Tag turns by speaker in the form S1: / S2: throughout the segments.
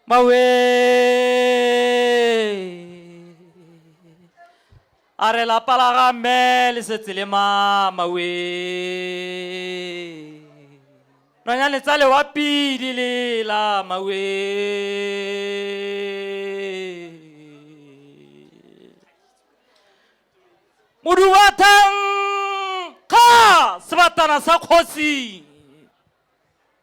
S1: Maue! A re lapa la ga mme le setse le mama we. Nonyane tsa lewapi di lela maue. Modubathang kga sebatana sa kgosi.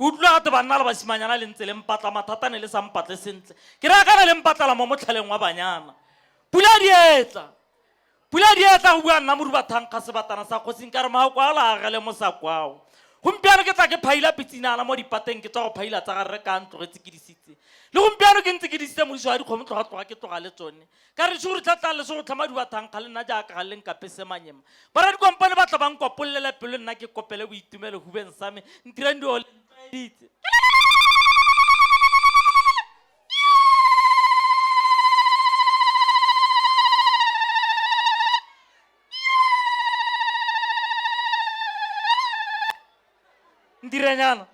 S1: Ke utlwile gate banna le basimanyana le ntse le mpatla mathata ne le sa mpatle sentle ke raya kana le mpatlala mo motlhaleng wa banyana pula dietla pula dietla go bua nna moruba thankga sebatana sa kgosing ka re mao kwao la agele mo sa kwao gompiano ke tla ke phaila pitsinana mo dipateng ke tswa go phaila tsa garre ka ntlogetse ke disitse le gompiano ke ntse ke disitse modiso wa dikgomo tloga tloga ke tloga le tsone ka re tshego re tla tla lesego tlhama dibathang ga le nna jaaka ga le nkape semanyema bara dikompane ba tla bang kopollela pelo nna ke kopele boitumelo hubeng sa me ntirang dio ditse ndiranyana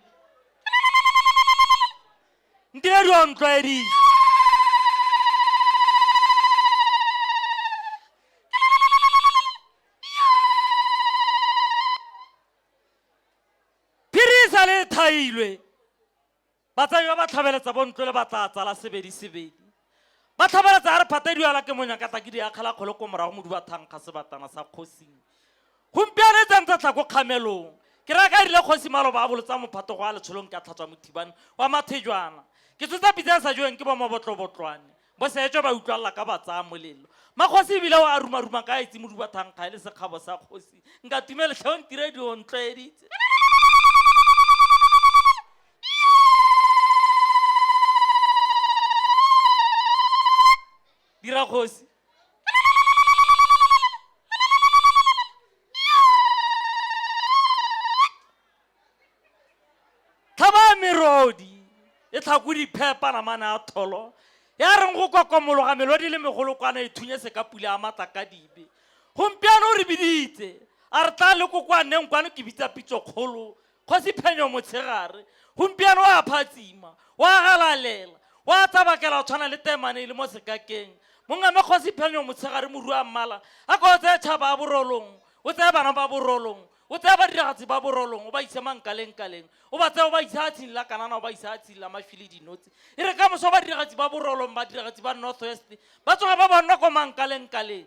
S1: ndị eri ọnụdọ eri phirisa le thailwe batsadi ba ba tlhabeletsa bontlo le ba tla tsala sebedi sebedi Ba tlhabalatsa a re phata diala ke monya ka tlaki di akgela kgolo ko morago modu ba thankga sebatana sa kgosing. Gompiano e tsantsa tla ko kgamelong. Ke raya ka rile kgosi maloba a bolotsa mophato go a letsholong ke a tlhatswa mothibane wa mathejwana. Ke tsotsa pitsa e sa jeweng ke bomabotlobotlwane. Bo seetswe ba utlwalela ka ba tsaya molelo. Makgosi ebile o a rumaruma ka a itse modu ba thankga e le sekgabo sa kgosi. Nka tumele tlhe o ntiredi o ntlwaeditse. dira kgosi tlhaba merodi e tlhako diphepa namane a tholo ya reng go kokomologa melodi le megolokwana e thunye se ka pula ya matla ka dibe gompiano o re biditse a re tla le kokoaneng kwano ke bitsa pitso kgolo Kgosi Phenyo Motshegare gompieno o a phatsima, o a galalela, o a tsabakela go tshwana le temane e le mo sekakeng. Mongame Kgosi Phenyo Motshegare Moruammala a ko o tseye tšhaba ya Borolong, o tseye bana ba Borolong, o tseye badiragatsi ba Borolong o ba ise Mankalengkaleng, o ba tseye o ba ise Hatshing la Kanana o ba ise Hatshing la Mashwele Dinotsi. E re ka moso badiragatsi ba Borolong, badiragatsi ba North West ba tsoga ba bonna ko Mankalengkaleng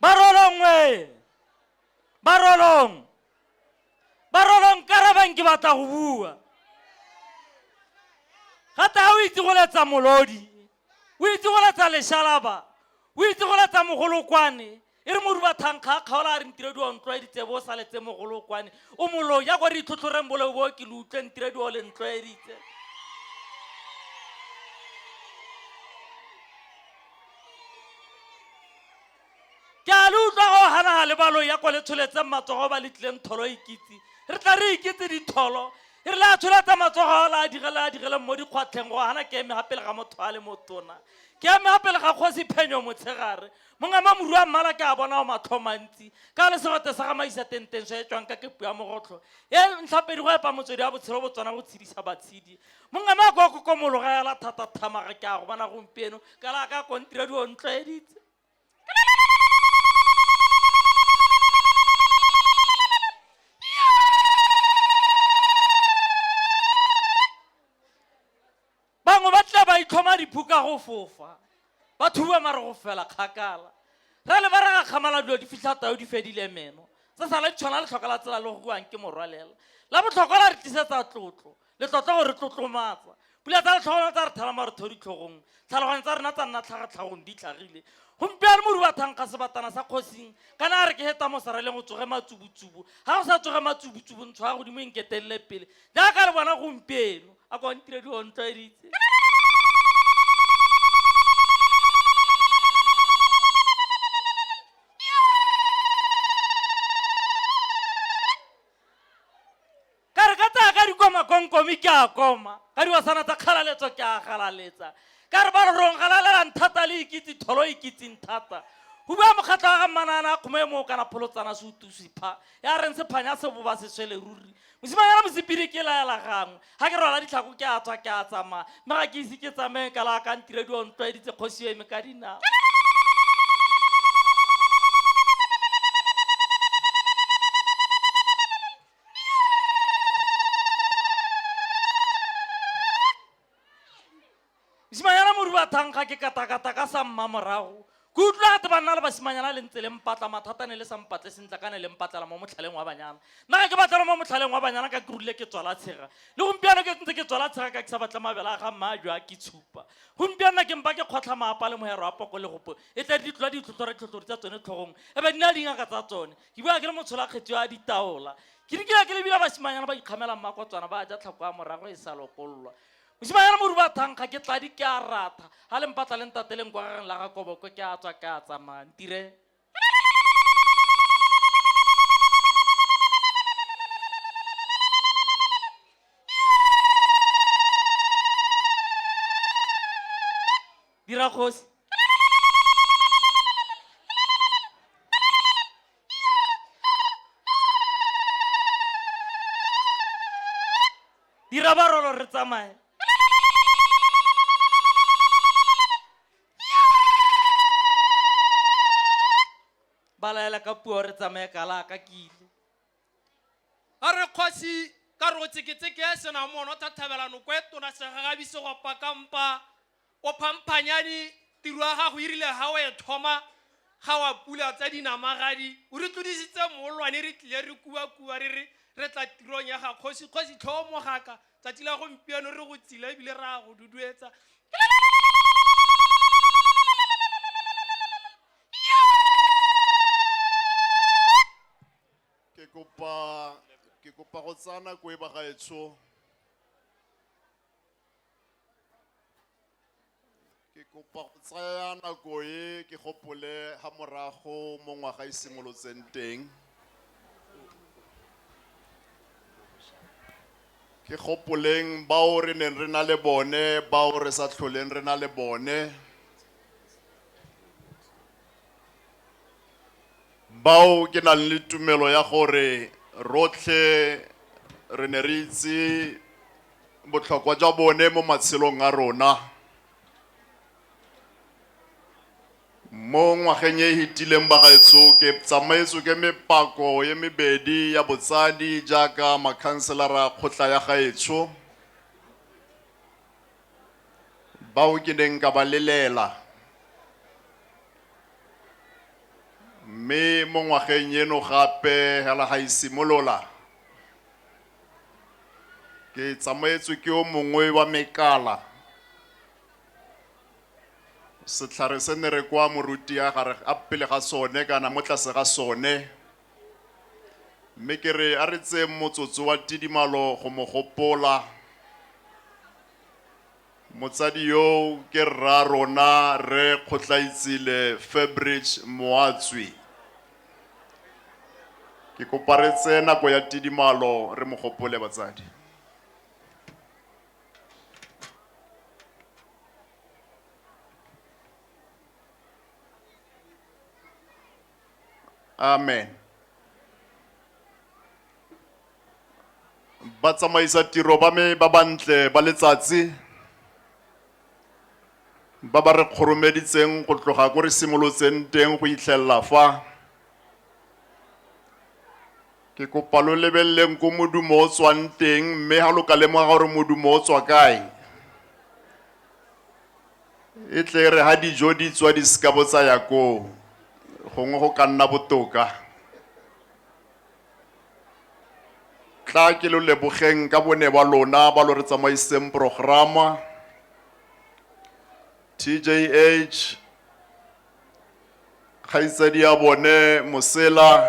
S1: barolongwe barolong barolong karabang ke batla go bua gata ga o itse go letsa molodi o itse go letsa leshalaba o itse go letsa mogolokwane e re modu ba thankga kgaola a re ntiredi wa ntlwaeditse bo o sa letse mogolokwane o molo ya gore itlhotlhoreng boleo bo ke le utlwe ntiredi wa o le ntlwaeditse ke a le utlwa go ganaga le balo ya kwa le tsholetseng matsogo ba letlileng tholo e kitse re tla re iketse ditholo e re le a tsholetsa matsogo a la a direle a direleng mo dikgwatlheng go gana ke eme gapele ga motho a le motona ke eme gapele ga kgosi phenyo motshegare mongama moru a mmala ke a bona o matlho mantsi ka le segote sa gamaisa tenteng so e tswang ka kepu ya mogotlho e ntlhapedi go epa motswedi wa botshelo botswana go tshedisa batshedi mongwe mako a kokomologa ya la thata thamaga ke a go bona gompieno ka la ka kontira di ontloeditse bangwe ba tla ba itlhoma diphuka go fofa ba thuba mare go fela kgakala ra le ba re ga kgamala dilo di fitlha tao di fedile meno se sale tshwana le tlhoka la tsela le go buang ke morwalela la botlhokwa la re tlisetsa tlotlo Le tlotla go re tlotlomatsa. Pula tsa letlhogona tsa re thela marotho ditlhogong, tlhaloganyo tsa rena tsa nna tlhagatlhagong di tlhagile. Gompieno moru wa thankga sebatana sa kgosing, kana a re ke heta mo sareleng o tsoge matsubutsubu. Ha go sa tsoge matsubutsubu, ntsho ya godimo e nketelele pele. Jaaka le bona gompieno, a kwa ntire di ontlwaeditse. Ka re ka tsaya ka dikoma konkomi ke a koma, ka diwasana tsa kgalaletso ke a galaletsa. Ka re ba re rong galalelang thata le ikitse tholo ikitseng thata. Go bua mokgatlho wa ga Mmanana a kgoma e moo kana pholotsana se utusi pha, ya reng se phanya se boba se swele ruri. Mosimanyana mosepiri ke laela gangwe, ga ke rwala ditlhako ke a tswa ke a tsamaya, mme ga ke ise ke tsamaye ka la ka ntirediwa o ntlwaeditse kgosi yo eme ka dinao. mosimanyana mori wa thankga ke katakata ka sa mma morago ke utlwa gate ba nna le basimanyana le ntse le mpatla mathata ne le sa mpatle sentle ka ne le mpatlela mo motlhaleng wa banyana nna ga ke batlela mo motlhaleng wa banyana ka ke rile ke tswala tshega le gompiano ke ntse ke tswala tshega ka ke sa batle mabele a ga mma a jwa ke tshupa gompianona ke mpa ke kgotlha maapa le mohero wa poko le gopo e tla ditlwa ditlhotlhore tlhotlhori tsa tsone tlhogong e be nna dingaka tsa tsone ke bua ke le motsholakgetsi wa ditaola ke di kile ke lebila basimanyana ba ikgamelang makotswana ba ja tlhako ya morago e sa lokololwa mosimanyana moru ba thankga ke tladi ke a ratha ga le mpatla le ntateleng kwa gageng la ga koboko ke a tswa ke a tsamaya ntire dira kgosi dira barolo re tsamaye ba laela ka puo re tsamaye kala ka kile
S2: a re kgosi ka re go tseketseke ya senamono thathabela noko e tona segagabi segopa kampa o phamphanyane tiro ya gago irile e ga o e thoma ga wa pula tsa dinamagadi o re tlodisitse moolwane re tlile re kuakua re re re tla tirong ya ga kgosi kgosi tlhoo mogaka tsatsi la gompieno re go tsile ebile re a go duduetsa ke
S3: kopa ke kopa go tsaya nako e bagaetsho ke kopa go tsaya nako e ke gopole ga morago mo ngwaga e simolotseng teng ke gopoleng bao re neng re na le bone bao re sa tlholeng re na le bone Bao ke nang le tumelo ya gore rotlhe re ne re itse botlhokwa jwa bone mo matshelong a rona. Mo ngwageng e e fetileng bagaetsho ke tsamaetswe ke mepako e mebedi ya botsadi jaaka makhanselara a kgotla ya gaetsho. bao ke neng ka ba lelela mme mo ngwageng eno gape hela ga e simolola ke tsamaetswe ke o mongwe wa mekala setlhare se ne re kwa moruti ya gare a pele ga sone kana mo tlase ga sone mme ke re a re tseye motsotso wa tidimalo go mo gopola motsadi yo ke rra rona re kgotlaitsile fabric moatswi ke kopa re tseye nako ya tidimalo re mo gopole batsadi amen ba tsamaisa tiro ba me ba bantle ba letsatsi ba ba re kgoromeditseng go tloga ko re simolotseng teng go itlhelela fa ke kopa lo lebeleleng ko modumo o tswang teng mme ga lo ka lemoga gore modumo o tswa kae e tle re ha dijo di tswa di seka bo tsaya koo gongwe go ka nna botoka tla ke lo lebogeng ka bone ba lona ba lo re tsamaiseng programa tjh kgaitsadi ya bone mosela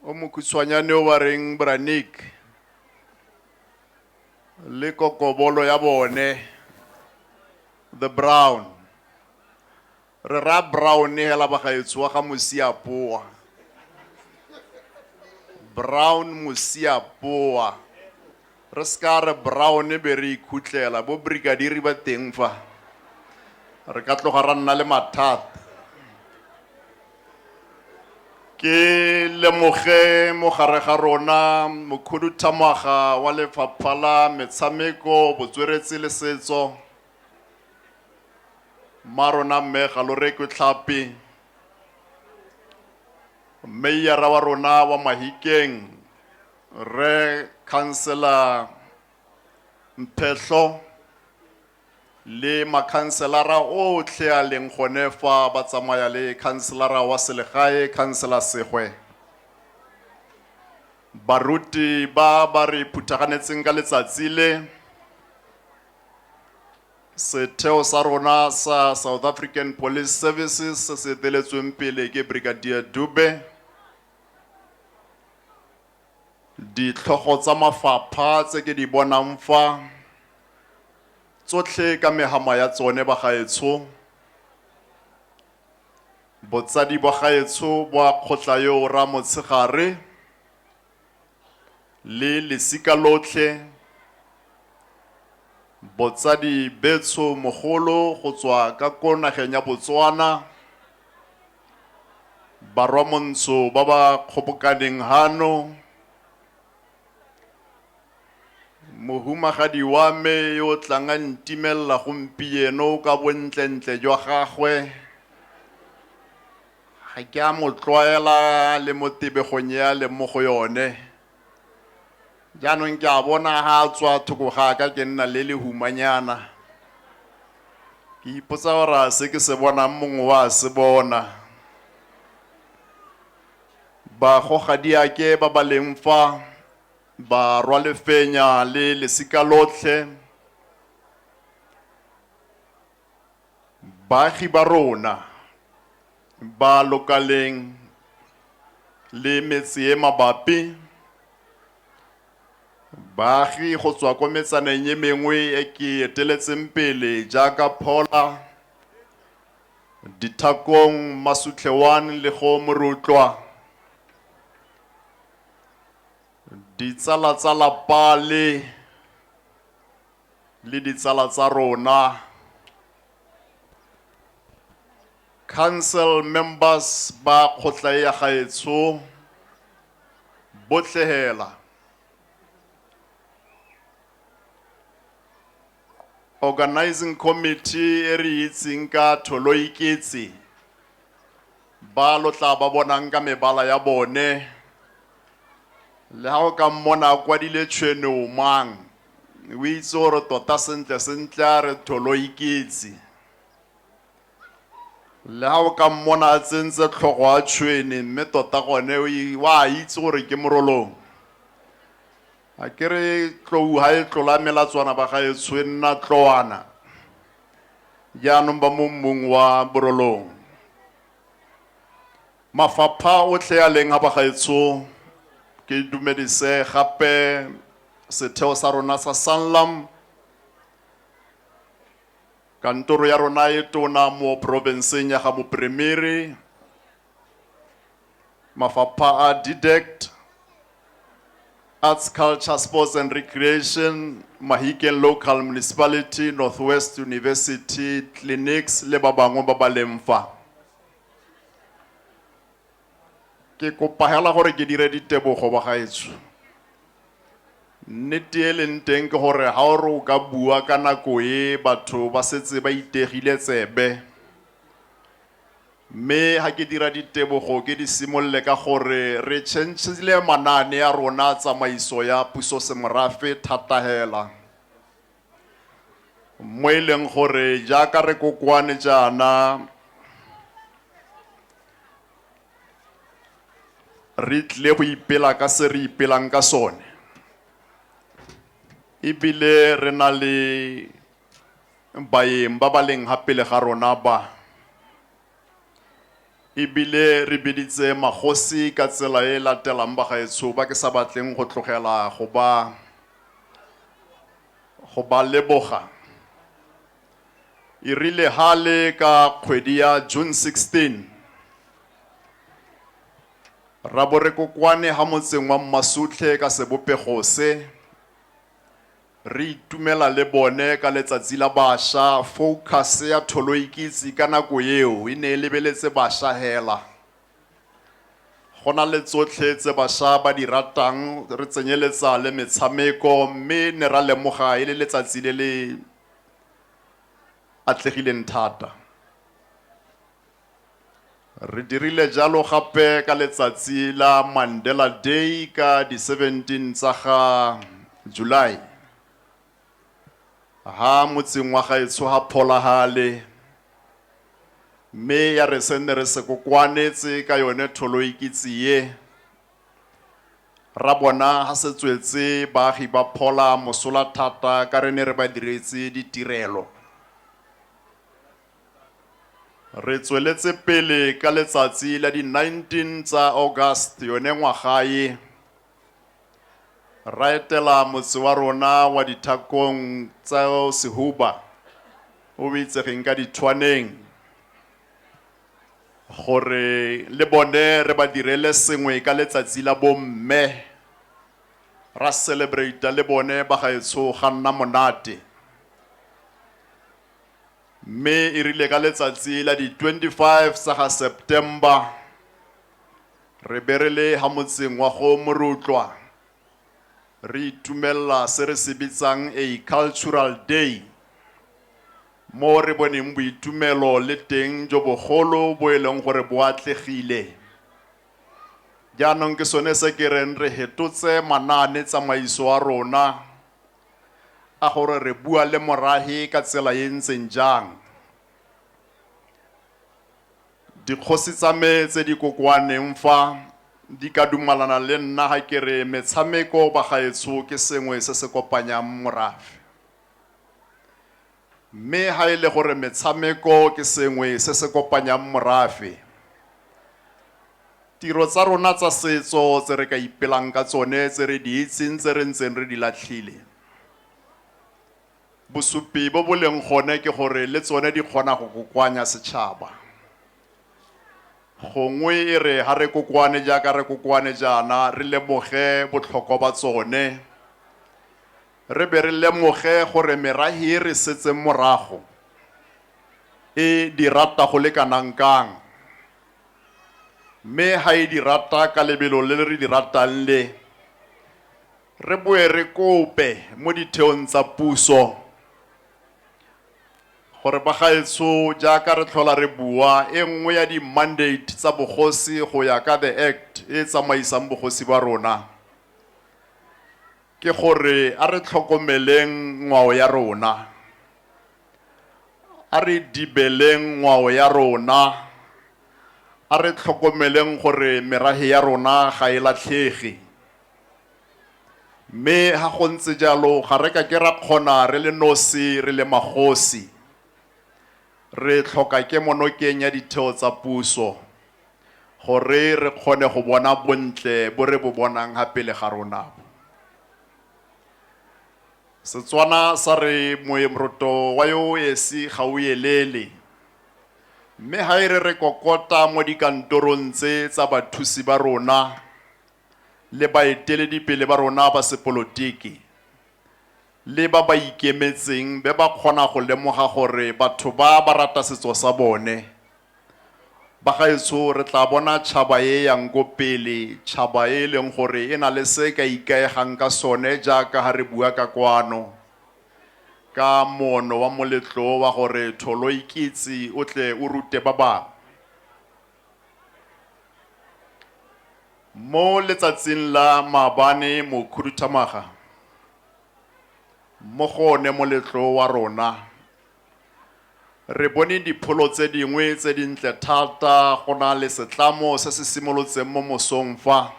S3: o mokhutshwanyane o ba reng branik le kokobolo ya bone the brown re ra brown hela bagaetsho wa ga mosiapoa brown mosiapoa re seka re brown be re ikhutlela bo brigadiri ba teng fa re ka tloga ra nna le mathata ke lemoge mo gare ga rona mokhuduthamaga wa lefapha la metshameko botsweretsi le setso mma rona mme galorekwe tlhapi mmeiara wa rona wa mahikeng re councilor mphetlho Le makhanselara otlhe a leng gone fa ba tsamaya le khanselara wa selegae, Khansela Segwe, baruti ba ba re phuthaganetseng ka letsatsi le, setheo sa rona sa South African Police Services se se eteletsweng pele ke Brigadier Dube, Ditlhogo tsa mafapha tse ke di bonang fa, tsotlhe ka megama ya tsone bagaetsho, botsadi bwa gaetsho bwa kgotla yo o ra Motshegare le lesika lotlhe, botsadi betsho mogolo go tswa ka ko nageng ya Botswana, Barwa Montsho ba ba kgobokaneng hano, mohumagadi wa me yo o tlang a ntimelela gompieno ka bontlentle jwa gagwe, ga ke a mo tlwaela le mo tebegong e a leng mo go yone. jaanong ke a bona ga a tswa thoko ga ka ke nna le lehumanyana ke ipotsa gore a se ke se bonang mongwe wa se bona bagogadiake ba ba leng fa ba rwa lefenya le lesika lotlhe Baagi ba rona ba lokaleng le metsee mabapi Baagi go tswa ko metsaneng e mengwe e ke eteletseng pele jaaka Phola, Dithakong, Masutlhe 1 le go Morutlwa, ditsala tsa lapa le le ditsala tsa rona, council members ba kgotla e ya gaetsho botlhe hela, organizing committee e re itseng ka Tholoiketse ba lo tla ba bonang ka mebala ya bone le ha o ka mmona a kwadile tshwene o mang O itse gore tota sentle-sentle a re tholo e ketsi. Le ga o ka mmona a tsentse tlhogo a tshwene mme tota gone o a itse gore ke morolong. A ke re tlou ga e tlola melatswana ba ga e tshwenna tloana. Jaanong ba mo mmung wa borolong. Mafapha otlhe a leng a bagaetsho, ke dumedise gape setheo sa rona sa Sanlam, kantoro ya rona e tona mo porofenseng ya ga Mopremere, mafapha a DDECT, Arts, Culture, Sports and Recreation, Mahikeng Local Municipality, North West University, Clinics le ba bangwe ba ba leng fa. ke kopa hela gore ke dire ditebogo bagaetsho nnete e leng teng ke gore ga o re o ka bua ka nako e batho ba setse ba itegile tsebe mme ga ke dira ditebogo ke di simolole ka gore re changile manaane ya rona tsamaiso ya puso semorafe thata hela mo e leng gore jaaka re kokoane jaana re tlile go ipela ka se re ipelang ka sone ebile re na le baeng ba ba leng ga pele ga rona ba E bile re biditse magosi ka tsela e e latelang, bagaetsho ba ke sa batleng go tlogela go ba go ba leboga. E rile ha le ka kgwedi ya June 16, ra bo re kokoane ha motseng wa Mmasutlhe ka sebopego se, Re itumela le bone ka letsatsi la basha. Focus ya Tholoikitse ka nako eo e ne e lebeletse basha hela. Go na le tsotlhe tse basha ba di ratang, re tsenyeletsa le metshameko, mme ne ra lemoga e le letsatsi le le atlegileng thata. Re dirile jalo gape ka letsatsi la Mandela Day ka di 17 tsa ga July, ha motseng wa gaetsho ha Pholahale, mme ya re se nne re se kokoanetse ka yone tholoikitsi ye, ra bona ha se tswetse baagi ba Phola mosola thata ka re ne re ba diretse ditirelo. Re tsweletse pele ka letsatsi la di 19 tsa August yone ngwaga e, ra etela motse wa rona wa dithakong tsa Sehuba o o itsegeng ka dithwaneng gore le bone re ba direle sengwe ka letsatsi la bomme ra celebrate le bone ba gaetsho ga nna monate. Mme e rile ka letsatsi la di 25 sa ga September re be re le ha motseng wa go Morutlwa re itumelela se re se bitsang a cultural day mo re boneng boitumelo le teng jo bogolo bo e leng gore bo atlegile. Jaanong ke sone se ke reng re hetotse manaane tsamaiso a rona a gore re bua le morahi ka tsela e ntseng jang. Dikgosi tsa me tse di kokoaneng fa di ka dumalana le nna ha ke re metshameko bagaetsho ke sengwe se se kopanyang morafe. Mme ha e le gore metshameko ke sengwe se se kopanyang morafe, tiro tsa rona tsa setso tse re ka ipelang ka tsone tse re di itseng tse re ntseng re di latlhile, bosupi bo bo leng gone ke gore le tsone di kgona go kokoanya setšhaba. Gongwe e re ha re kokoane jaaka re kokoane jaana re lemoge botlhokwa ba tsone, Re be re lemoge gore merahi e re setseng morago e di rata go le kanang kang. Mme ha e di rata ka lebelo le re di ratang le, re boe re kope mo ditheong tsa puso gore bagaetsho jaaka re tlhola re bua, e nngwe ya di-mandate tsa bogosi go ya ka the Act e e tsamaisang bogosi ba rona, Ke gore a re tlhokomeleng ngwao ya rona, a re dibeleng ngwao ya rona, a re tlhokomeleng gore merafe ya rona ga e latlhege. Mme ha go ntse jalo ga re ka ke ra kgona re le nosi re le magosi. Re tlhoka kemonokeng ya ditheo tsa puso. gore re kgone go bona bontle bo re bo bonang ga pele ga rona bo. Setswana sa re moemroto wa yo o esi ga o elele mme ga e re re kokota mo dikantorong tse tsa bathusi ba rona le baeteledipele ba rona ba sepolotiki le ba ba ikemetseng be ba kgona go lemoga gore batho ba ba rata setso sa bone. Bagaetsho re tla bona tšhaba e yang ko pele, tšhaba e e leng gore e na le se e ka ikaegang ka sone jaaka ha re bua ka kwano ka moono wa moletlo wa gore tholo ikitse o tle o rute ba bangwe. Mo letsatsing la maabane mokhuduthamaga, mo go one moletlo wa rona, re bone dipholo tse dingwe tse dintle thata go na le setlamo se se simolotseng mo mosong fa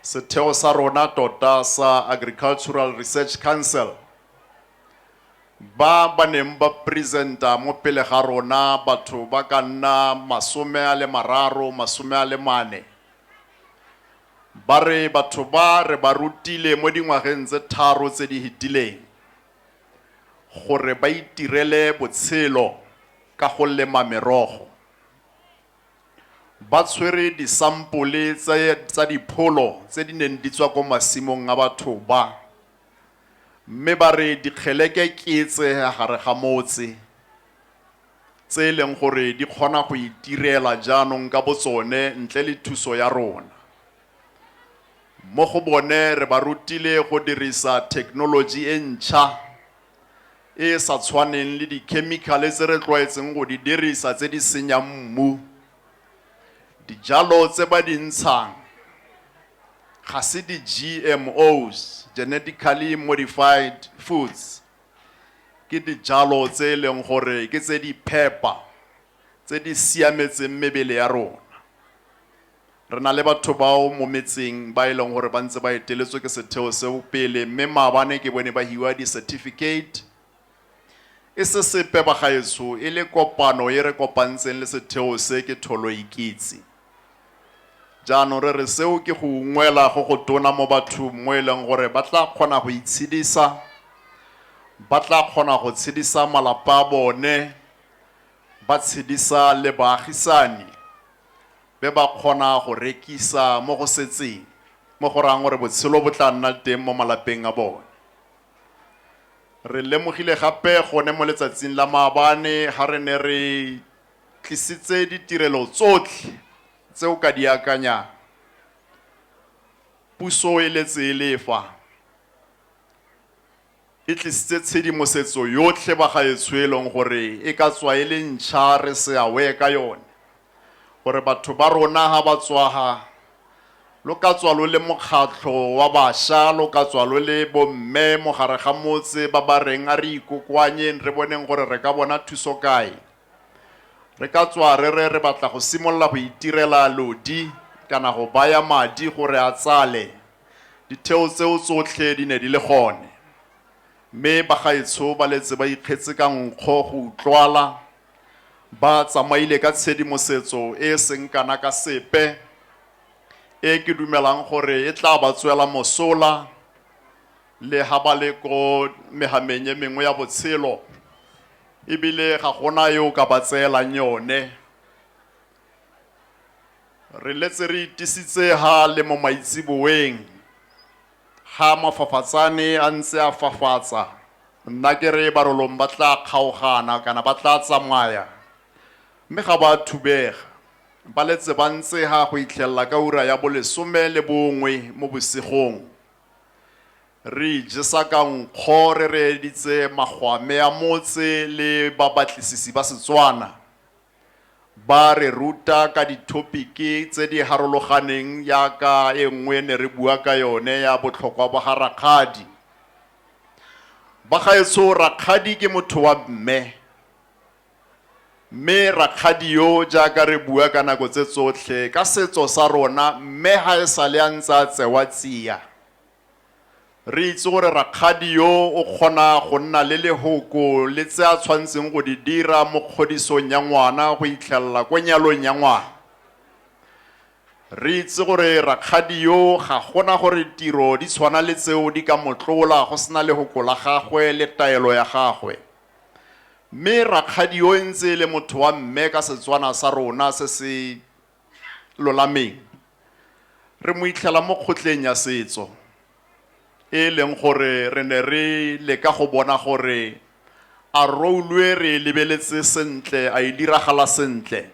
S3: setheo sa rona tota sa Agricultural Research Council ba ba neng ba presenta mo pele ga rona batho ba ka nna masome a le mararo masome a le mane ba re batho ba re ba rutile mo dingwageng tse tharo tse di hetileng gore ba itirele botshelo ka go lema merogo ba tshwere disampole tsa dipholo tse di neng di tswa ko masimong a batho ba Mme ba re dikgeleke ke tse gare ga motse tse e leng gore di kgona go itirela jaanong ka botsone ntle le thuso ya rona. Mo go bone re ba rutile go dirisa thekenoloji e ntšha e e sa tshwaneng le dikhemikhale tse re tlwaetseng go di dirisa tse di senyang mmu. Dijalo tse ba di ntshang Ga se di-G_M_Os, genetically modified foods, ke dijalo tse e leng gore ke tse di phepa, tse di siametseng mebele ya rona. Re na le batho bao mo metseng ba e leng gore ba ntse ba eteletswe ke setheo seo pele, mme maabane ke bone ba hiwa di-certificate. E se sepe bagaetsho, e le kopano e re kopantseng le setheo se ke Tholoikitse. Jaanong re re seo ke go ungwela go go tona mo bathong mo e leng gore ba tla kgona go itshedisa, ba tla kgona go tshedisa malapa a bone, ba tshedisa le baagisani, be ba kgona go rekisa mo go setseng, mo go rayang gore botshelo bo tla nna teng mo malapeng a bone. Re lemogile gape gone mo letsatsing la maabane ha re ne re tlisitse ditirelo tsotlhe tse o ka di akanyang. Puso e letse e le fa e tlisitse tshedimosetso yotlhe bagaetsho e leng gore e ka tswa e le ntšha re se aware ka yone. gore batho ba rona ga ba tswaga lo ka tswa lo le mokgatlho wa basha lo ka tswa lo le bomme mogare ga motse ba ba reng a re ikokoanyeng re boneng gore re ka bona thuso kae re ka tswa re re re batla go simolola go itirela lodi kana go baya madi gore a tsale ditheo tseo tsotlhe di ne di le gone mme bagaetsho ba letse ba ikgetse ka nkgo go utlwala Ba tsamaile ka tshedimosetso e e seng kana ka sepe e ke dumelang gore e tla ba tswela mosola le ha ba le ko mehameng e mengwe ya botshelo, ebile ga gona yo o ka ba tseelang yone. Re letse re itisitse ha le mo maitseboeng. Ga mafafatsane a ntse a fafatsa, nna ke re barolong ba tla kgaogana kana ba tla tsamaya, mme ga ba a thubega. Ba letse ba ntsega go itlhelela ka ura ya bolesome le bongwe mo bosigong. Re ijesa ka nkgo re reeditse magwame a motse le babatlisisi ba Setswana. Ba re ruta ka dithopiki tse di harologaneng jaaka e nngwe ne re bua ka yone ya botlhokwa ba ga rakgadi. Bagaetsho rakgadi ke motho wa mme, mme rakgadi yo jaaka re bua ka nako tse tsotlhe ka setso sa rona mme ga e sale a ntse a tsewa tsia. Re itse gore rakgadi yo o kgona go nna le lehoko le tse a tshwantseng go di dira mo kgodisong ya ngwana go itlhelela ko nyalong ya ngwana. Re itse gore rakgadi yo ga gona gore tiro di tshwana le tseo di ka motlola go sena lehoko la gagwe le taelo ya gagwe. Mme rakgadi yo e ntse e le motho wa mme ka Setswana sa rona se se lolameng, re mo itlhela mo kgotleng ya setso e e leng gore re ne re leka go bona gore a roulue re e lebeletse sentle, a e diragala sentle.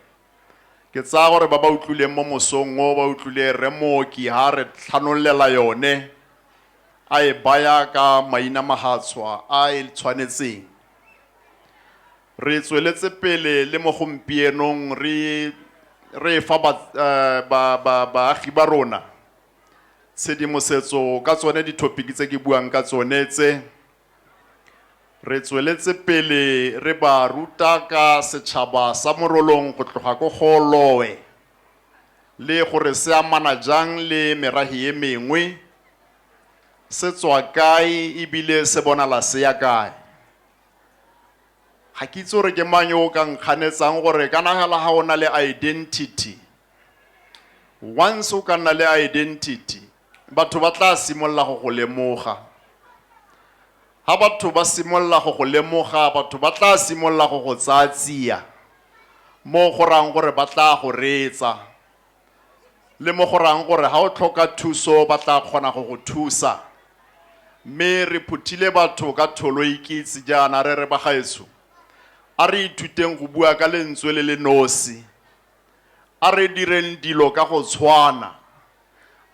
S3: Ke tsaya gore ba ba utlwileng mo mosong o ba utlwile Rre Mooki ha a re tlhanolela yone, a e baya ka maina mahatshwa a e tshwanetseng. Re tsweletse pele le mo gompienong re re fa ba, eh, ba, ba, baagi ba rona tshedimosetso ka tsone dithopiki tse ke buang ka tsone tse. Re tsweletse pele re ba ruta ka setšhaba sa Morolong go tloga ko Gooloe le gore se amana jang le merahi e mengwe, se tswa kae ebile se bonala se ya kae. ga ke itse gore ke mang yo o ka nkganetsang gore ka nagala ga o na le identity once o ka nna le identity batho ba tla simolola go go lemoga ga batho ba simolola go go lemoga batho ba tla simolola go go tsaya tsia mo go rang gore ba tla go reetsa le mo go rayang gore ga o tlhoka thuso ba tla kgona go go thusa mme re phuthile batho ka tholo e ikitse jaana re re bagaetsho a re ithuteng go bua ka lentswe le le nosi a re direng dilo ka go tshwana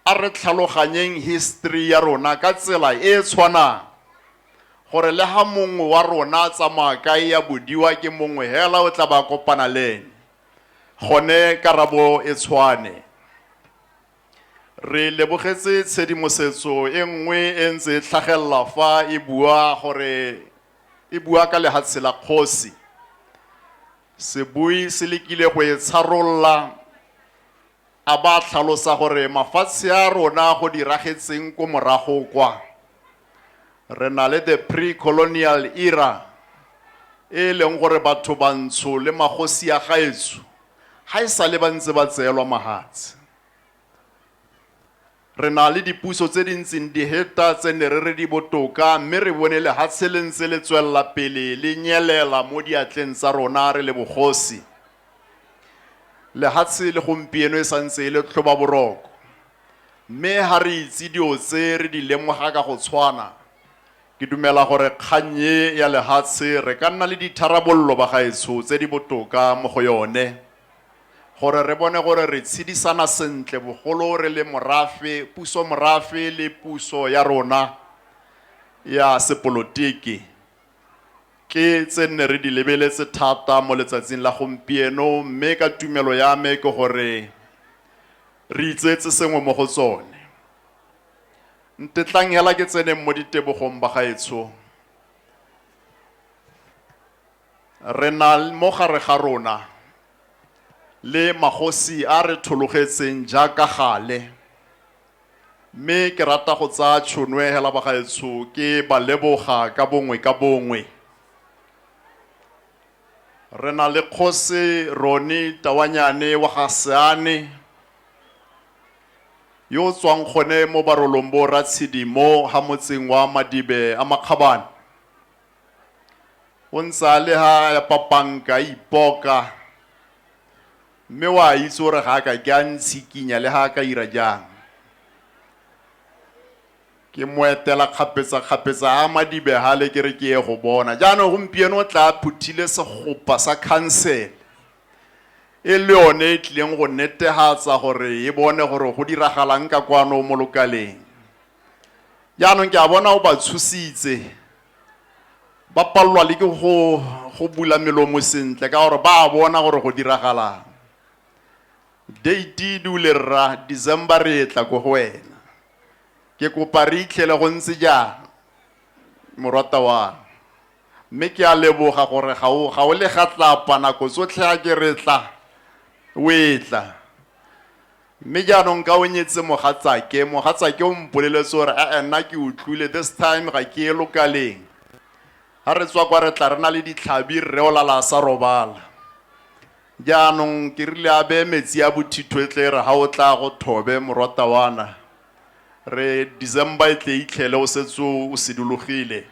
S3: a re tlhaloganyeng history ya rona ka tsela e e tshwanang gore le ga mongwe wa rona a tsamaya kae ya bodiwa ke mongwe hela o tla ba kopana le ene gone karabo e tshwane. Re lebogetse tshedimosetso e nngwe e ntse e tlhagelela fa e bua gore e bua ka lehatshe la kgosi. Sebui se lekile go e tsharolola a ba tlhalosa gore mafatshe a rona go diragetseng ko morago kwa re na le the pre-colonial era e leng gore batho bantsho le magosi ya gaetsho ga e sa le ba ntse ba tseelwa mahatshe Re na le dipuso tse di ntseng di heta tse ne re re di botoka mme re bone lehatshe le ntse le tswelela pele le nyelela mo diatleng tsa rona re le bogosi. Lehatshe le gompieno e sa ntse e le tlhobaboroko mme ha re itse dio tse re di lemoga ka go tshwana. Ke dumela gore kgang e ya lehatshe re ka nna le ditharabololo bagaetsho tse di botoka mo go yone. gore re bone gore re tshedisana sentle bogolo re le morafe, puso morafe le puso ya rona ya sepolotiki ke tse nne re di lebeletse thata mo letsatsing la gompieno mme ka tumelo ya me ke gore re itseetse sengwe mo go tsone ntetlang hela ke tseneng mo ditebogong bagaetsho Re na mo gare ga rona le magosi a a re thologetseng jaaka gale, mme ke rata go tsaya tšhono e hela bagaetsho ke ba leboga ka bongwe ka bongwe. Re na le Kgosi Roni Tawanyane wa ga Seane, yo o tswang gone mo barolong bo Ratshidi mo ha motseng wa Madibe a Makgabane. o ntse a le ha ya papanka a ipoka mme wa itse gore ga a ka ke a ntshikinya le ga a ka ira jang ke mo etela kgapetsa-kgapetsa a madibe gale ke re ke ye go bona jaanong gompieno o tla phuthile segopa sa khansele e le yone e tlileng go netegatsa gore e bone gore go diragalang ka kwano mo lokaleng jaanong ke a bona o ba tshositse ba palelwa le ke go go bula melomo sentle ka gore ba a bona gore go diragalang date di le rra december re etla ko go wena ke kopa re itlhele go ntse jang morata wa mme ke a leboga gore ga o ga o le ga tlapa nako tsotlhe a ke re tla o etla Mme jaanong ka o nyetse mogatsake, mogatsake o mpoleletse gore e-e nna ke utlwile, this time ga ke ye lokaleng. Ga re tswa kwa re tla re na le ditlhabi, rre o lala a sa robala. Jaanong ke rile a beye metsi a bothitho e tle e re ga o tla go thobe morwatawana, re December e tle e itlhele o setse o sidologile.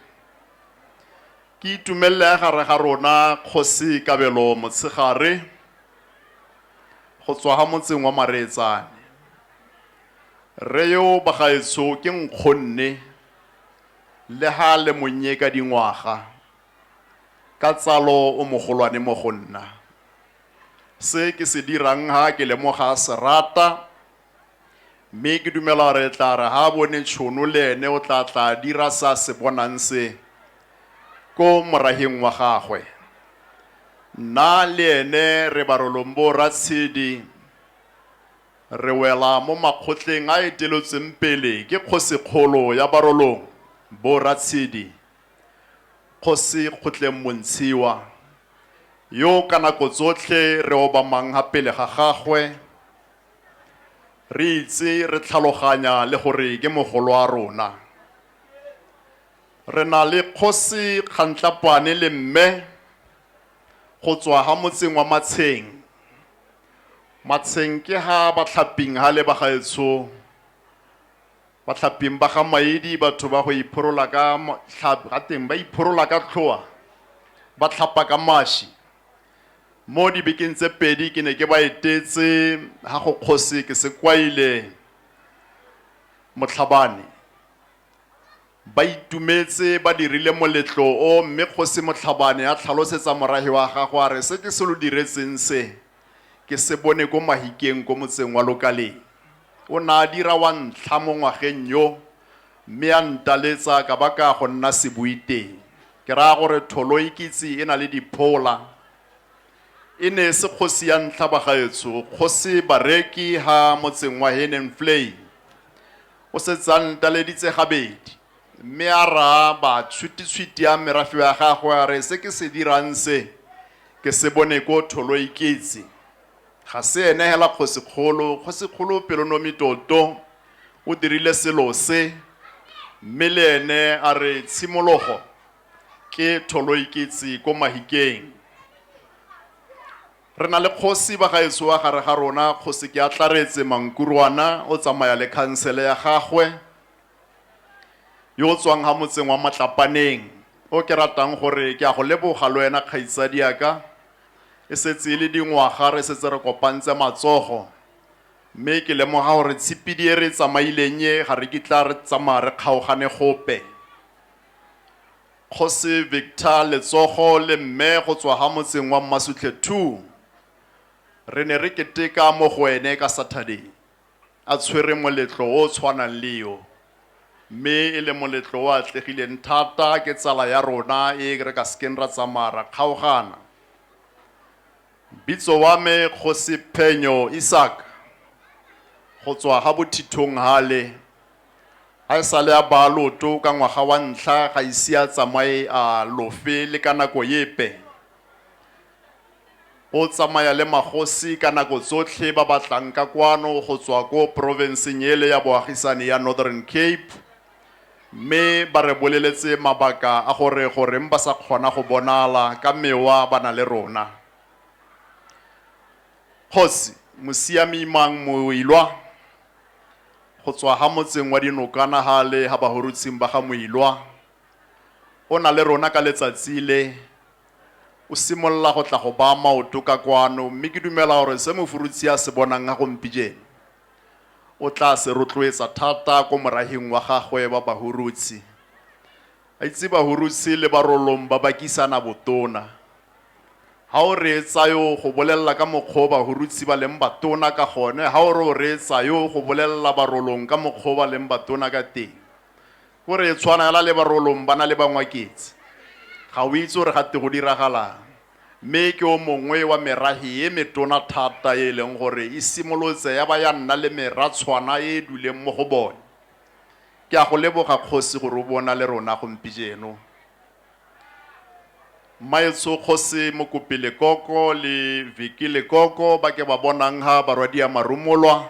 S3: Ke itumelele ya gare ga rona Kgosi Kabelo Motshegare go tswa ha motseng wa Mareetsane. Rre yo bagaetsho ke nkgonne le ha le monnye ka dingwaga, ka tsalo o mogolwane mo go nna. Se ke se dirang ha ke lemoga serata, Mme ke dumela gore e tla re ga a bone tšhono le ene o tla tla a dira se a se bonang se ko morageng wa gagwe. Nna le ene re Barolombo Ratshedi re wela mo makgotleng a etelotsweng pele ke kgosikgolo ya Barolong bo Ratshedi, Kgosi Kgotleng Montshiwa, yo ka nako tsotlhe re obamang ga pele ga gagwe, re itse re tlhaloganya le gore ke mogolo wa rona re na le kgosi kgantlapane le mme go tswa ha motseng wa matsheng matsheng ke ha batlhaping ha le ba gaetsho batlhaping ba ga maedi batho ba go iphorola ka ga teng ba iphorola ka tlhoa ba tlhapa ka mashi Mo dibekeng tse pedi ke ne ke ba etetse ha go kgosi ke se kwaile Motlhabane. Ba itumetse ba dirile moletlo o mme kgosi Motlhabane a tlhalosetsa morahi wa gagwe a re se ke se lo diretseng se ke se bone ko Mahikeng ko motseng wa Lokaleng. O ne a dira wa ntlha mo ngwageng yo Mme a ntaletsa ka ba ka go nna sebui teng, ke raya gore Tholoikitsi e na le diphola. E ne e se kgosi ya ntlha bagaetsho, kgosi Bareki ha motseng wa Hennenvlei. O setse a ntaleditse gabedi. Mme a raa ba tshwititshwiti a merafe ya gagwe a re se ke se dirang se ke se bone ko Tholoikitsi. Ga se ene hela kgosikgolo, kgosikgolo Pelonomitoto o dirile selo se, mme le ene a re tshimologo ke tholoiketsi ko Mahikeng. Re na le kgosi ba gaetsho wa gare ga rona, Kgosi Keatlaretse Mankurwana, o tsamaya le khansele ya gagwe, yo o tswang ha motseng wa Matlapaneng, o ke ratang gore ke a go leboga le wena kgaitsadiaka. E setse e le dingwaga re setse re kopantse matsogo, mme ke lemoga gore tshipidi e re e tsamaileng e ga re kitla re tsamaya re kgaogane gope. Kgosi Victor Letsogo le Mme go tswa ga motseng wa Mmasutlhe Two, re ne re keteka mo go ene ka Saturday. a tshwere moletlo o o tshwanang le yo mme e le moletlo o atlegileng thata ke tsala ya rona e re ka sekeng ra tsamaya ra kgaogana bitso wa me kgosi phenyo isak go tswa ga bothithong hale ga e sale a baa loto ka ngwaga wa ntlha ga ise a tsamaye a lofe le ka nako epe O tsamaya le magosi ka nako tsotlhe ba ba tlang ka kwano go tswa ko porofenseng ele ya boagisani ya Northern Cape mme ba re boleletse mabaka a gore goreng ba sa kgona go bonala ka mewa ba na le rona. Kgosi, Mosiami Mang Moilwa, go tswa ha motseng wa Dinokana hale ha Bahorutshing ba ga Moilwa, o na le rona ka letsatsi le O simolola go tla go baa maoto ka kwano, mme ke dumela gore se Mofurutshe a se bonang ga gompijeno, o tlaa se rotloetsa thata ko morahing wa gagwe ba Bahurutse. A itse Bahurutse le Barolong ba bakisana botona. Ha o reetsa yo go bolelela ka mokgwa o Bahurutse ba leng batona ka gone, ha o re o reetsa yo go bolelela Barolong ka mokgwa o ba leng batona ka teng, Ko re tshwanela le barolong ba na le bangwaketsi. Ga o itse gore ga te go diragalang. Mme ke o mongwe wa merahe e metona thata e e leng gore e simolotse ya ba ya nna le meratshwana e e duleng mo go bone. Ke a go leboga Kgosi gore o bo o na le rona gompijeno. Mmaetsho Kgosi Mokopi Lekoko le Vicki Lekoko ba ke ba bonang ha Barwadia Marumolwa